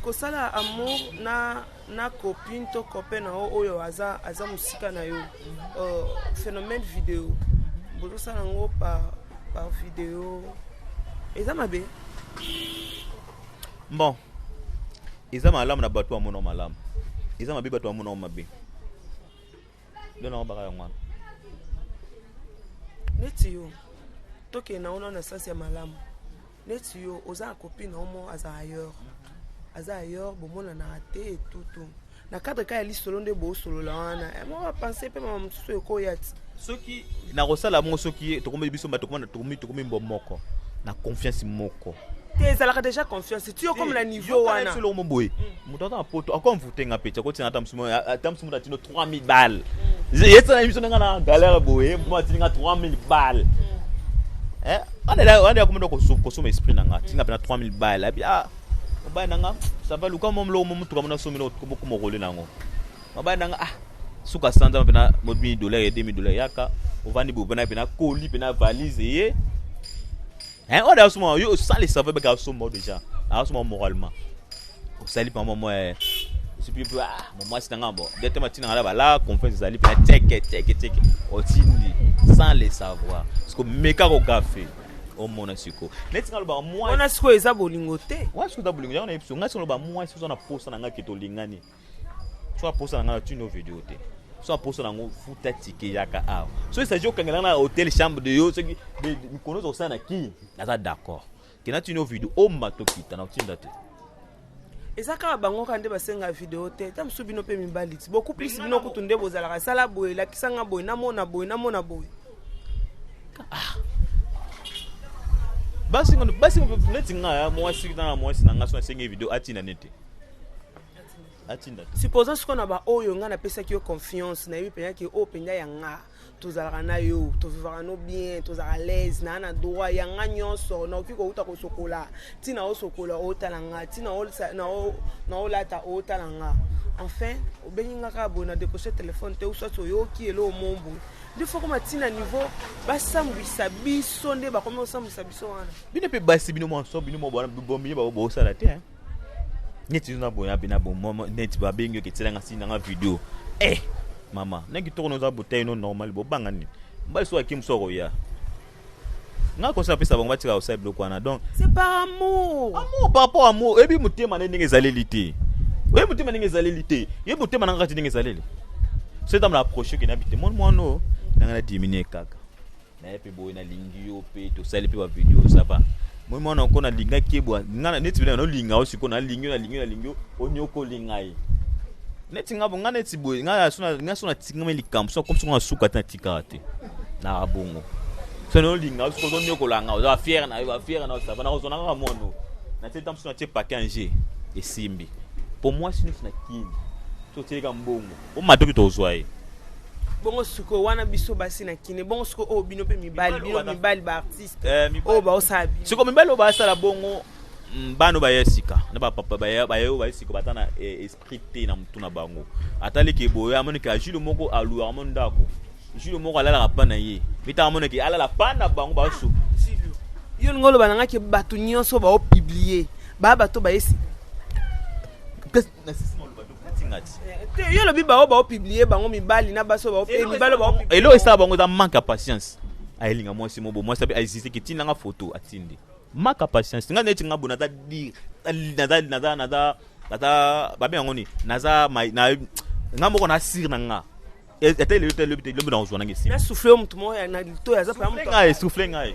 kosala amour na na copine to copain na yo oyo aza aza mosika na yo oh, phénomène video bozosala yango par par video eza mabe bon eza malamu na bato bamona malamu eza mabe bato bamona mabe Bino na baka yango wana. Neti yo. Toke na ona na sens ya malamu. Neti yo oza copine omo aza ailleurs. Aza ailleurs bomona na raté et tout tout. na cadre kaka ya lisolo nde bosolola wana eh, mwa bapense mpe mama mosusu ekoya ti soki nakosala yango soki tokomi biso bato tokomi mbo moko na confiance moko te ezalaka déjà confiance ti okomi na niveau wana moto ata na poto ako envoute nga peti akotina ata mosusu ata mosusu moto atino 3000 balle mm. yesana na biso ndenge na galère boye mpo atini nga 3000 balle mm. eh, wana ya komenda kosoma esprit na nga tinga mpena 3000 balle abi ah, mobali na nga sava luka mo moloko mo motuka mona somi bokomokole na yango mobali na nga ah suka sanza mpena mobini dollar ye 2000 dollar yaka ovandi boye mpena mpena koli mpena valise ye Eh, oyo daso mwa yo osali save beka somba déjà. Aso mwa moralement. Osali pa mwa eh, soki mpe ah, mwasi na ngai bo nde te matina ngai bala confiance ezali mpe teke teke teke otindi sans le savoir siko meka kogafe omona siko neti ngai lobaka mwasi wana sikoyo eza bolingo te wana sikoyo eza bolingo yango nayebi so ngai sikoyo loba mwasi oza na posa na ngai ke tolingani so aposa na ngai na tino video te so aposa na yango futa tike yaka awa so esaji okangela na hotel chambre de yo soki mikolo oza kosala na kini naza d'accord kena tino video omba tokita na otinda te eza kaka bango kaka nde basenga video te ta mosusu bino mpe mibali ti beaucoup plus bino kutu nde bozalaka esala boye elakisa nga boye namona boye namona boye ah. basi neti nga mwasi na mwasi na nga so asengi video atina nete supposant sikoyo na baoyo ngai napesaki yo confiance nayebi mpenza ke oyo mpenza ya nga tozalaka na yo tovivaka no bien tozalaka laise naa na droit ya nga nyonso naoki kouta kosokola ntina osokola otala nga ntina naolata otala nga enfin obengi nga kaka boye na décroche telefone te uswati oyoki eloo mombo nde fokoma ntina niveau basambwisa biso nde bakomi kosambwisa biso wana bino mpe basi bino mwanso bino mwa bwana bomiye bosala te neti yo naboya mpe na bomama neti babengi oke tielanga si nanga video e eh, mama na kitoko noza botai no normal bobanga nini mbali so akim so akoya nga kosi napesa bango batika kosala biloko wana donc c'est par amour amour par rapport amour oyebi motema nde ndenge ezaleli te oyebi motema ndenge ezaleli te oyebi motema nanga kati ndenge ezaleli so etambola approche oke na bite moni mwana oyo nanga na diminue kaka naye mpe boye nalingi yo mpe tosali mpe bavideo sava moi mwana oko nalingaki ebwa nga neti bina nolinga yo sikoyo nalingi yo nalingi yo nalingi yo onyokoli ngai neti nga nga neti boye nga so natingami likambo so akomisi nga nasuka te natikaka te na bongo so nolinga yo sikoyo ozonyokola nga oza bafiere na yo bafiere na yo sava nakozona kaka mono natie ntango so natie pake ange esimbi mpo mwasi neti na kini so otielika mbongo Bo matoki to zwa ye. bongo sikoyo wana biso basi na kine bongo sikoyo oyo bino mpe mibali bino mibali baartiste eh, oyo baosala bino sikoyo mibali oyo basala bongo mm, bano baya sika na bapapa baye oyo baye sika bata na eh, esprit te na motu na bango ataliki eboye amoniki ajule moko aluaka mo ndako jule moko alalaka pa na ye mitanga amoniki alala pa na bango basu ah, yo lingo oloba nangaki bato nyonso baopiblie baa bato baye sika te yo olobi bango baopiblie bango mibali na basi mibali eloko esala bango eza manque ya patience ayelinga mwasi mobo mwasi abe aiziziki ntina nga foto atindi manque ya patience nga neti nga bo naza dire naza naza naza naza babe yango nini naza nga moko na sire na nga ata elelo te lobi te lobi nakozwa nange nsima nasufle yo motu moko na litoyi aza ngai sufle ngai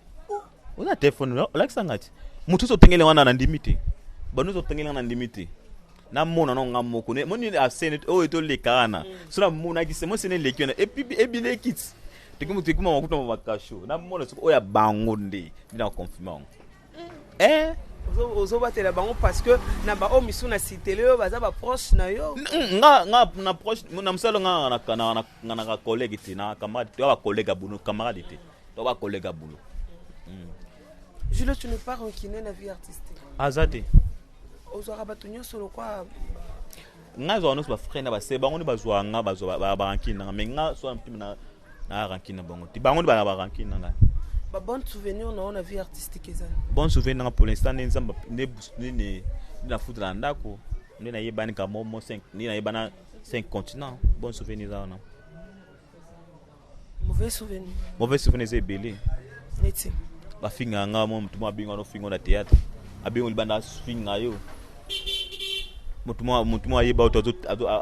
oza telefone olakisa ngai te moto nyonso otengeli wana na ndimi te bato nyonso otengeli wana na ndimi te namona no nga moko moni asene oyo toleka wana so namonaki se mosene eleki wana ebileki ti teki moto ekuma makuta ma bakasho namona soki oyo ya bango nde nde na confirme yango eh ozobatela bango parce que na baoyo misu na sitele oyo baza baproche na yo nga nga na proche na mosala nga nga na collègue te na camarade to ba collègue ya bono camarade te to ba kolega bulo mm. Jules tu ne pas rancune na vie artistique azate ozwaka bato nyonso lokwa ngai azwaka nyonso bafrai na base bango nde bazwaka nga bazwa barankine nanga mai ngai soa mpima na na rankine na bango te bango nde bana barankine na ngai babonne souvenir na yo na vie artistique ezali bonne souvenir nanga pour l'instant nde nzambe nde nafutela na ndako nde nayebani kamomo nde nayebana 5 continent bonne souvenir eza wana mauvais souvenir mauvais souvenir eza ebele neti bafinga ya ngai mo motu moko abinga nofingo na théâtre abingo libanda afinga yo motu moko ayeba oto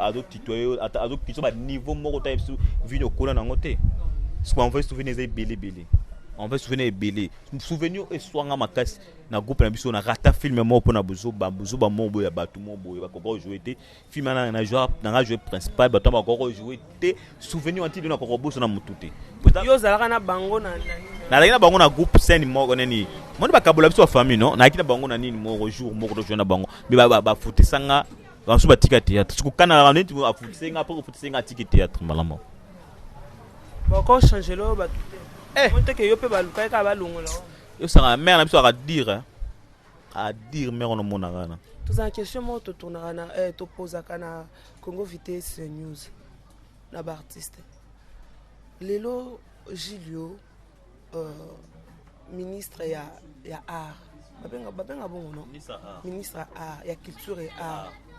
azotitwa yo azokitisa baniveau moko ta biso vini okola nango te soki envoye souvenir eza ebele ebele envoye souvenir ebele souvenir eswanga makasi na groupe na biso na rata filme moko mpo na bozoba bozoba moko boye ya bato moko boye bakoka ojoue te film wana na joueur na nga jouer principal bato na bakoko jouer te souvenir wanti dona koko boso na mutu te yo ozalaka na bango na nazalaki na bango na groupe scène moko nini moni bakabola biso bafamille no nayaki na bango na nini moko jour moko tojoue na bango me bafutisa nga basusu batika théâtre sikokanaka neti afutise nga apres kofutise nga atiki théâtre malamu boko change lo bato te eh. moteke yo mpe balukaki kaka balongola yo sanga mare na biso akadire a dire mère on mona kana tous en question mo to tourna kana eh to posa kana Congo vitesse news na ba artiste lelo Julio euh, ministre ya ya art babenga babenga bongo non ministre ya art ya culture et art ah.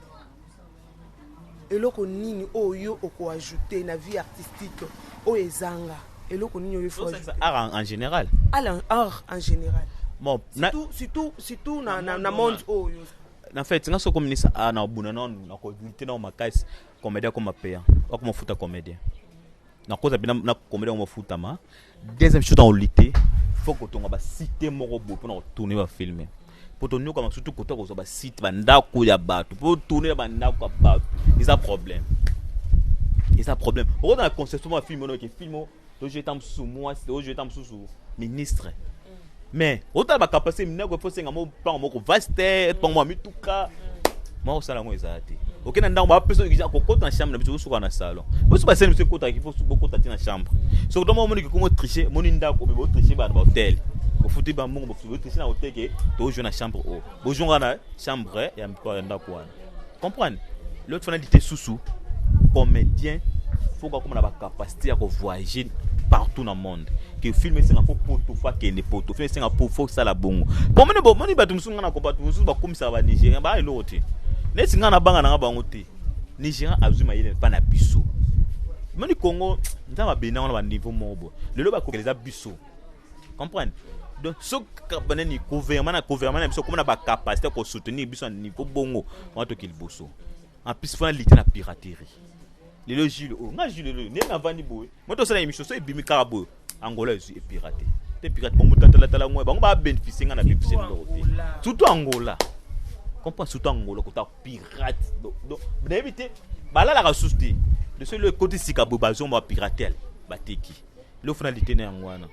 Eloko nini oyo yo oko ajouter na vie artistique oyo ezanga? Eloko nini oyo il faut ajouter? Art en, en général. Art en, art en général. Bon, na, surtout, surtout, surtout na, na, na monde oyo. Na fait, nga soko minisa a na buna na na ko lutter na makasi comédien comme payant. Okoma futa comédien. na koza bina na komela ngo futama deuxième chose en lutte faut ko tonga ba site moko bo pona ko tourner ba film po to nyoka masutu ko to ko ba site ba ndako ya bato po tourner ba ndako ya bato eza problème eza problème oko na conception ya film no ke film to je tam sous moi to je tam sous ministre Mais otala ba capacité minoko il faut senga mo pango moko vaste, pango mwa mituka. Mwa osala yango ezala te. Okenda ndako ba peso kija kokota na chambre na biso osuka na salon. Bosu ba sene biso kota ki fosu bokota ti na chambre. Soki tomo moni kikomo tricher, moni ndako me bo tricher ba na ba hotel. Bofuti ba mbongo bofuti bo tricher na hotel ke to joue na chambre o. Bo joue na chambre ya mko ya ndako wana. comprendre leo tifana lite susu comédien fo kakoma na bacapacité ya kovoyage partout na monde ke film esenga fo poto fo akende poto film esenga po fo osala bongo pomoni bomoni bato mosusu ngai nako bato mosusu bakomisaka banigérien baa eloko te neti ngai nabanga nanga bango te nigérien azwi mayele mpa na biso moni congo nzambe abendango na baniveau moko boye lelo bakokela eza biso comprendre donc soki banani gouvernement na gouvernement na biso komona bacapacité ya kosoutenir biso na niveau bongo wana toki liboso en plus fona lite na piraterie lelo jule oyo oh, nga jule lelo ndenge navandi boye mo tosala émission so ebimi kaka boye angola ezwi epirate te pirate bongo tatalatala ngo bango babénéficie nga na bebise biloko te surtout angola comprend surtout angola kota pirate donc nayebi te balalaka susu te de soki lo ekoti sika boye bazongo bapiratel bateki leo fana lite na yango wana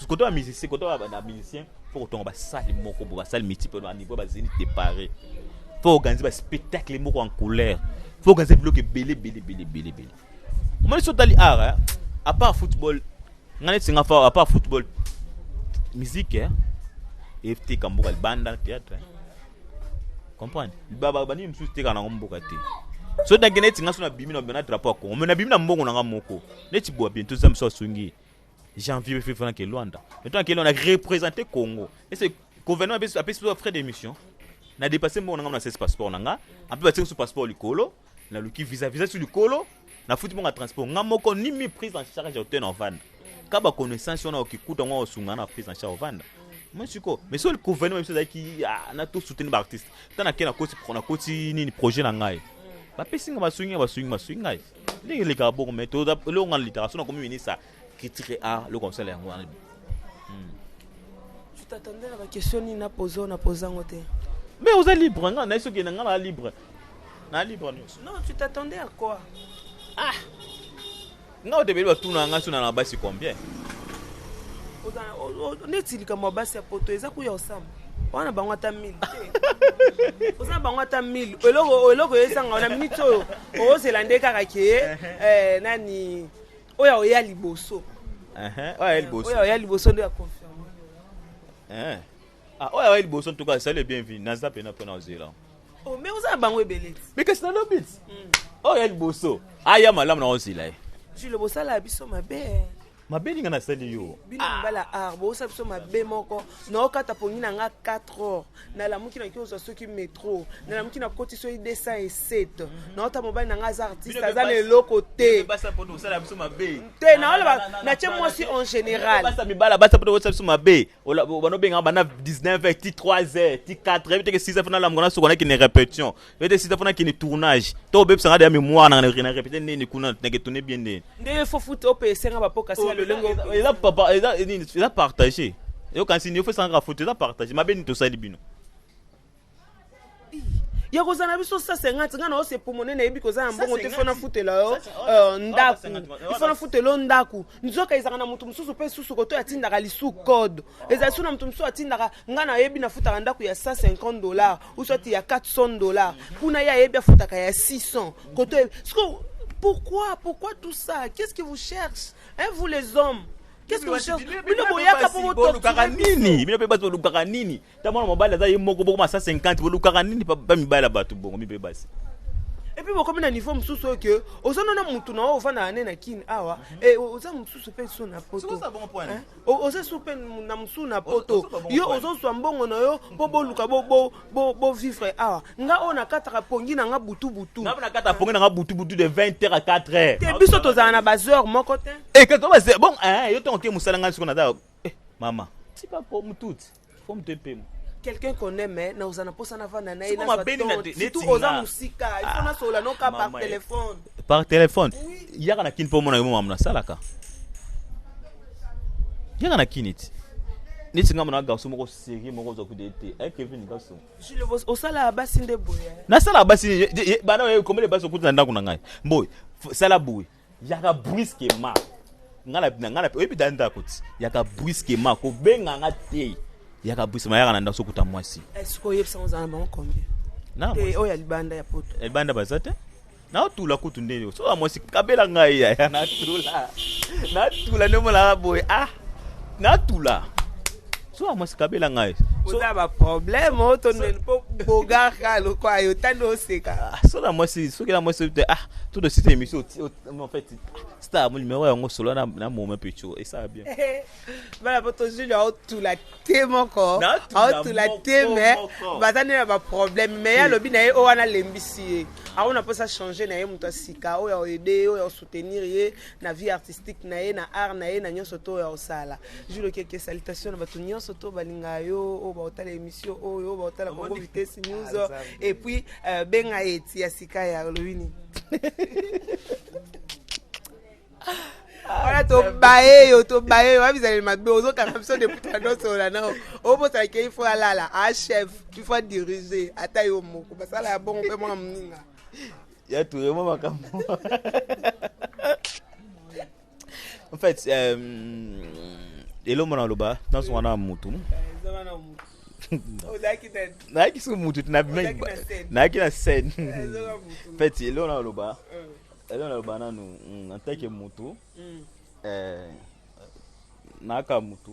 koto ya musicien koto ya musicien fo kotonga basali moko bo basali multiple na niveau bazini depare fo organise baspectacle moko en couleur fo organise biloko ebele ebele ebele ebele ebele omoni so otali art eh, à part football ngai neti nga fa à part football musique eh, eteka mboka libanda théâtre eh. comprendre banini mosusu eteka nango mboka te so danke neti nga so nabimi na drapeau ya congo me nabimi na mbongo na nga moko neti boa bientôt zambe so asungi janvier befe fana ke luanda bientôt na ke luanda représenter congo ese gouvernement apesi apesi biso frais d'émission na dépasse mbongo na ngai na sese passeport na ngai ape batie biso passeport likolo naluki visa visa ti likolo nafuti mbongo ya transport ngai moko ni mi prise en charge ya hotel na ovanda ka baconnaissance wana okikuta yango osunga na prise en charge ovanda moi siko mais so gouvernement biso ezalaki ah, na to soutenir baartiste ntango nake nakoti nakoti nini projet na ngai bapesi ngai basungi ngai basungi basungi ngai ndenge elekaka boko me eloko nga litaka so nakomi minisa critique a ah, eloko mosala yango wana hmm. tu t'attendais na baquestion nini napoza oyo napoza yango te me oza libre nga naye soki na nga naa libre naa libre nyonso non tu t'attendais à quoi ah nga otebeli batuna nga sona na basi combien neti likambo ya basi ya poto eza kuya osamba wana bango ata 1000 te oza bango ata 1000 eloko eloko oyesanga wana minute oyo ozela nde kaka ke eh, nani oyo aoya liboso oyo aoya liboso nde ya confirme eh. ah, oyo aoya liboso ntuka esali bienvenu naza mpena mpona ozela oh, me oza na bango ebele ti bikasi na lobi ti hmm. oyo ya liboso aya malamu na ozela ye jule bosala biso mabe mabe ninga nasali yo bino ah. mibala ar bosa biso mabe moko naokata pongi na nga 4 heures nalamuki naki ozwa soki metro nalamuki nakoti soki 207 mhm. naota mobali na nga aza artiste aza na eloko te te naoloba natie mwasi en général basa mibala basa poto osa biso mabe banobengaka bana 19 ti 3 heures ti 4 heures biteke 6 heures fo nalamuka nasuka naki ne répétition Bete sita pona kini tournage. To bebisa ngade ya memoire na na répéter nini kuna na ketone bien nini. Nde fo foot o pesa nga bapoka sala le lengo. Eza papa eza nini eza partager. Yo kansi ni ofesa nga foot eza partager. Mabe ni tosali bino. ya kozala na biso sa 50 ngai na ose pomone nayebi koza na mbongo te fo nafutela yo euh, ndako ifo nafutela yo ndako nzoka ezalaka na moto mosusu mpe susu koto atindaka lisu code ezali so na moto mosusu atindaka ngai nayebi nafutaka ndako ya 150 dollars ou soit ya 400 dollars kuna ye ayebi afutaka ya 600 koto siko pourquoi pourquoi tout ça qu'est-ce que vous cherche hein, vous les hommes qu'est-ce que vous cherche bino boyaka mpo bolukaka nini bino mpe basi bolukaka nini ta mwana mobali aza ye moko bokoma 150 bolukaka nini pa mibali ya bato bongo mipe basi epuis bokomi na niveau mosusu oyo ke oza nona motu na oyo ofandaka nde na kini awa oza mosusu mpe so na poto oza sur mpe na mosusu na poto yo ozozwa mbongo na yo mpo boluka bovivre awa nga oyo nakataka pongi na nga butubutu nakataka pongi na nga butubutu de 20 heure à 4 heure te biso tozala na baheure moko te eh, bon eh, yo ntango te mosala ngai siko naza eh, mama tipa po motuti faut moto epema quelqu'un qu'on aime na oza na posa na vanda na ye na ba tonte surtout oza musika il faut na sola no ka par téléphone par téléphone yaka na kin po mona yo mamu na salaka yaka na kin iti neti ngambo na garso moko serie moko oza kude te eh, kevin garso osalaka basi nde boye nasalaka basi bana oye komele basi okuti na ndako na ngai mboye sala boye yaka brusquement nga na nga na oyebi da ndako ti yaka brusquement ko benga nga te yaka brusquement yaka na ndako sokuta mwasi est-ce que oyebisa ngo zana bango combien na te oyo ya libanda ya poto ya libanda baza te natula kutu nde soka mwasi kabela ngai yaya natula natula nde omonaka boye ah natula zuwa mwasi kabela ngai oza baproblème o tondeni mpo bogarka lokwa yo tani oseka ah, sola mwasi soki na mwasi te ah tout de suite émission en fait star mo numéro yango solo na na moment pecho et ça bien bana po to juli au tout la te moko au tout la te mais baza nde na baproblème mais ya lobi na ye oyo wana lembisi ye ako na mposa changer na ye moto ya sika oyo ya oede oyo ya osoutenir ye na vie artistique na ye na art na ye na nyonso to oyo ya osala Jules Keke salutation na bato nyonso to balinga yo oyo baotala émission oyo oyo baotala Congo Vitesse News ah, et puis euh, benga ye ti ya sika ya olobi nini wana tobaye yo tobaye yo abizaleli mabe ozokanga biso deputa nyonso na nao obosala ke ifo alala a chef ifo adirige ata yo moko basala ya bongo mpe mwana moninga ya turemo makambo En fait, euh, elombo na loba nazonga na mutu nayaki so mutu nayaki na scène en fait eloo na loba eloo na loba nanu en tant que mutu nayaka mutu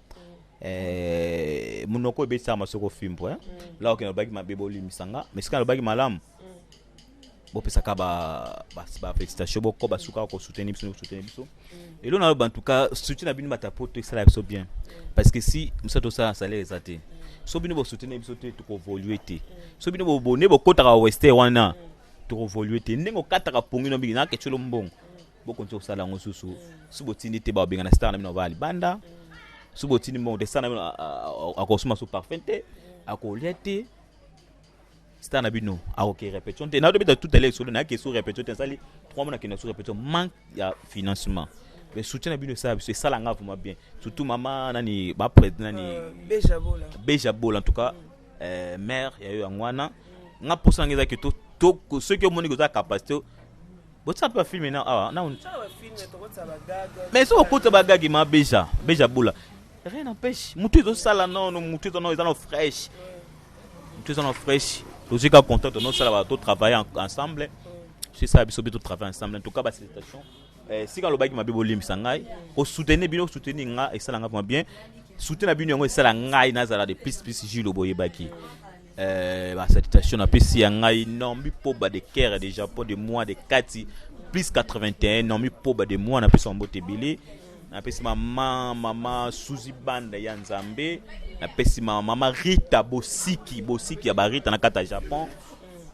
eh, monoko ebetama soki ofimbo eh? mm. laoke nalobaki mabe bolimisa nga mais soki nalobaki malamu mm. bopesaka bafélicitation boko basukaka kosoutenir biso kosoutenir biso mm. elo naloba ntuka soutien na bino batapoto esala biso bien parce que si mosala tosala na salaire eza te so bino bosoutenir biso te tokovolue te so bino bobone bokotaka weste wana tokovolue te ndenge okataka pongi no mingi nakecelo mbongo bokonzi kosala yango susu soki botindi te babengana star na bino avaa libanda soki botindi mbongo te star na bino akosuma so parfum te akolia te star na bino akoke répétition te naotobeta tout à l'heure solo nayake so répétition te nasali trois mois nakenda so répétition manque ya financement mais soutien na bino esala biso esala nga vraiment bien surtout mama nani baprete nani euh, beja bola en tout cas euh, mère ya yo yango wana nga mposa nanga ezaki soki omoni koza capacité botia mpe bafilme na awa na mais soki okota bagage ma beja beja bula rien n'empêche motu ezosala nono motu eza no eza no fraîche motu eza no fraîche tozwi ka contact tonosala ba totravaille ensemble sisala biso mpe totravaille ensemble en tout cas basituation eh, sika alobaki mabe bolimbisa ngai osoutenir bino osoutenir nga esala ngai mwa bien soutien na bino yango esala ngai nazala de plus plus julo boyebaki Euh, ba salutation na pesi ya ngai Naomi Poba de Caire de Japon de moi de Kati plus 81 Naomi Poba de moi na pesi mbote ebele na pesi mama mama Suzy Banda ya Nzambe na pesi mama mama Rita Bosiki Bosiki ya ba Rita na kata Japon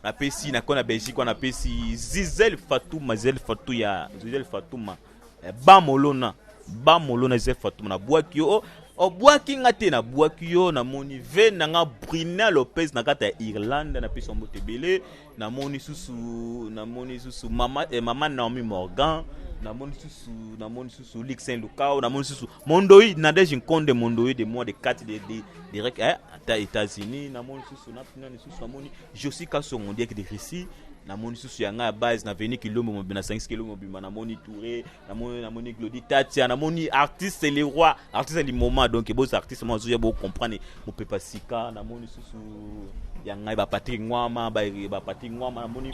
napesi nakona belgique wana napesi zizel fatuma zizel fatu ya zizel fatuma Eh, ba molona ba molona eza fatuma na bwaki yo obwaki oh, oh, nga te na bwaki yo namoni ve na nga brina lopez na kati ya irlande na pesa mbote ebele namoni susu namoni susu mama, eh, mama naomi morgan namoni susu namoni susu lixin lukao namoni susu Mondoi Nadège Nkonde Mondoi de moi de 4 de, de direct eh, ata États-Unis na moni susu na pina ni susu amoni Josi Kasongo direct de Russie na moni susu ya ngai base na veni kilombo mobimba na sangisi kilombo mobimba na moni Touré na moni na moni Glody Tatia na moni artiste le roi artiste du moment donc bozo artiste moi zo ya bo comprendre mopepa sika na moni susu ya ngai ba Patrick Ngwama ba ba Patrick Ngwama na moni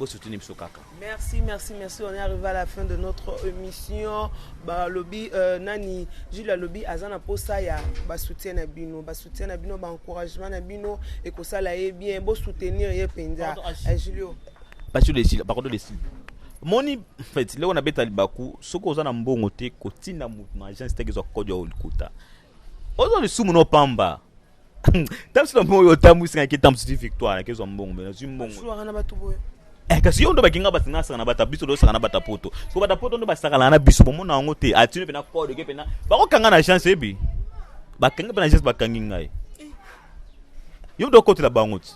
bo soutenir biso kaka merci merci merci on est arrivé à la fin de notre émission balobi euh, nani jules alobi aza na posa ya basoutien na bino basoutien na bino baencouragement na bino ekosala ye bien bo soutenir ye mpenza eh, julio basi desila bakodo desila moni fait leo nabeta libaku soki oza na mbongo te kotinda moto na agence teke ezwa kodi ya olikuta oza lisumu no pamba ntango sila moyo otambwisi ngai ke ntango soki victoire nakezwa mbongo me nazwi mbongo na bato boye Eh, kasi yo ndo bakinga basi nga sakana bata biso losaka na bata poto so bata poto ndo basakana na biso bomona yango te atino mpe na code ke mpe na bakokanga na chance ebi bakangi mpe na chance bakangi ngai yo ndo okotela bango ti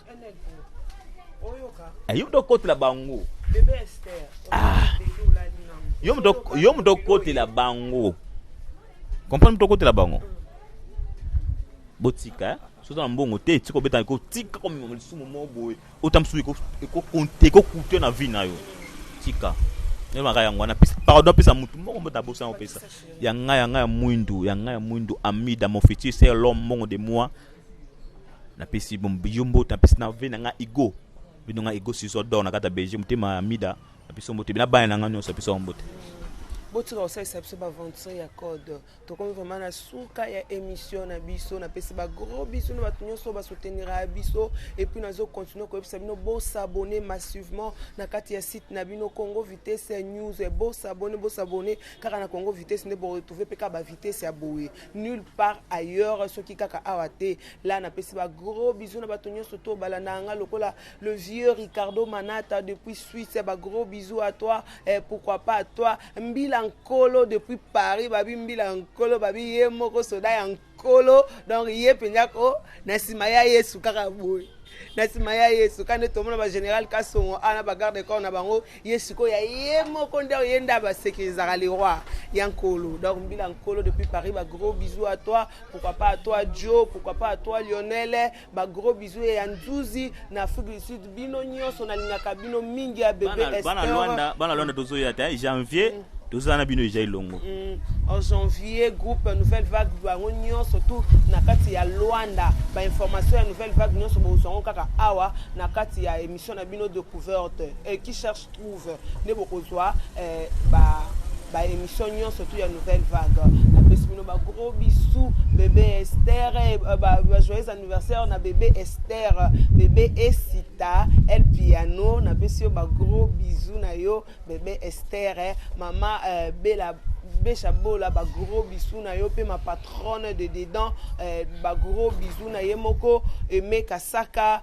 eh, yo ndo okotela bango ah. yo ndo okotela bango comprendre to kotela bango botika soki oza na mbongo te tika obeta tika komema lisumu moko boye ota mosusu ekokute na vie na yo tika elobaka yango wana pardon apesa motu moko mbote abosa yango pesa ya ngai ya ngai ya mwindu ya ngai ya mwindu amida mon futur c'est l'homme mbongo de moi napesi yo mbote napesi na vie na ngai ego bino ngai ego siso dor na kati ya belgique motema amida na biso mbote bina bana na nga nyonso biso yango mbote botika kosalisa biso baventure ya code tokomi vraiment na suka ya émission na biso napesi bagros biso na bato nyonso basouteniraka biso epuis nazocontinue koyebisa bino bosabone massivement na kati ya site na bino congo vitesse ya news bosabone bosabone kaka na congo vitesse nde boretrouve mpe kaka bavitesse ya boye nulle part ailleurs soki kaka awa te la napesi bagros biso na bato nyonso to balanda yanga lokola le vieux Ricardo Manata depuis Suisse, eh, ba gros bisous à toi, eh, pourquoi pas à toi, Mbila Nkolo depuis Paris, babi Mbila Nkolo, babi ye moko soda ya Nkolo, donc ye penza ko na sima ya Yesu kaka boye. na nsima ya ye suka nde tomona bagénéral kasongo a na bagarde de corps na bango ye sikoyo ya ye moko nde ye nde abasekirizaka le roi ya nkolo donc mbila nkolo depuis paris ba gros bisous à toi pourquoi pas à toi joe pourquoi pas à toi lionel ba gros bisous ya nzuzi na afrique du sud bino nyonso nalingaka bino mingi ya bebe Bana- bana Esther. Luanda- bana lwanda tozoya te hein, janvier tozala na bino eja elongo Mm, en janvier groupe nouvelle vague bango nyonso tout na kati ya luanda bainformation ya nouvelle vague nyonso bozwango kaka awa na kati ya émission na bino découverte Eh, qui cherche trouve nde bokozwa eh, ba ba émission nyonso tu ya nouvelle vague napesi bino ba gros bisous bébé Esther eh, ba, ba joyeux anniversaire na bébé Esther bébé Esita El Piano napesi yo ba gros bisous na yo bébé Esther eh, mama eh, Bella Besha Bola ba gros bisous na yo pe ma patronne de dedans eh, ba gros bisous na ye moko Aimé Kasaka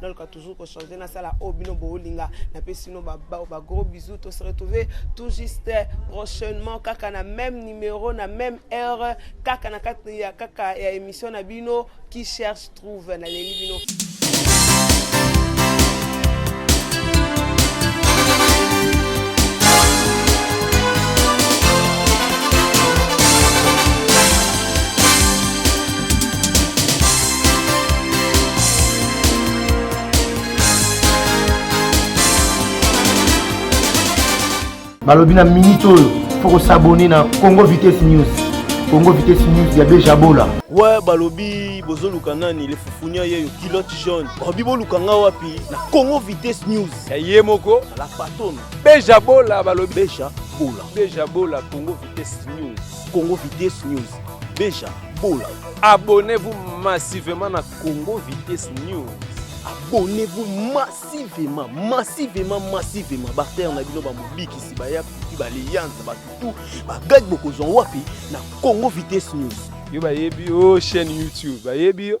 naluka toujours ko changer nasala oyo bino boolinga napesi bino bagros bisou to se retrouve tout juste prochainement kaka na même numéro na même heure kaka na kati ya kaka ya émission na bino qui cherche trouve naleli bino balobi na minute oyo fo kosabone na congo vitesse news congo vitesse news ya bejabola we balobi bozoluka nani le fufunia yeyo kilote jaune balobi boluka nga wapi na congo vitesse news ya ye moko la patone bejabola balobi bejabola bejabola congo vitesse news congo vitesse news Beja Bola. Abonnez-vous massivement na Congo Vitesse News. Abonnez-vous massivement, massivement, massivement. Barter na bino ba mobikisi ba ya kuti ba liyanza ba tutu ba gag bokozwa wapi na Congo Vitesse News. Yo bayebi yo chaîne YouTube bayebi yo.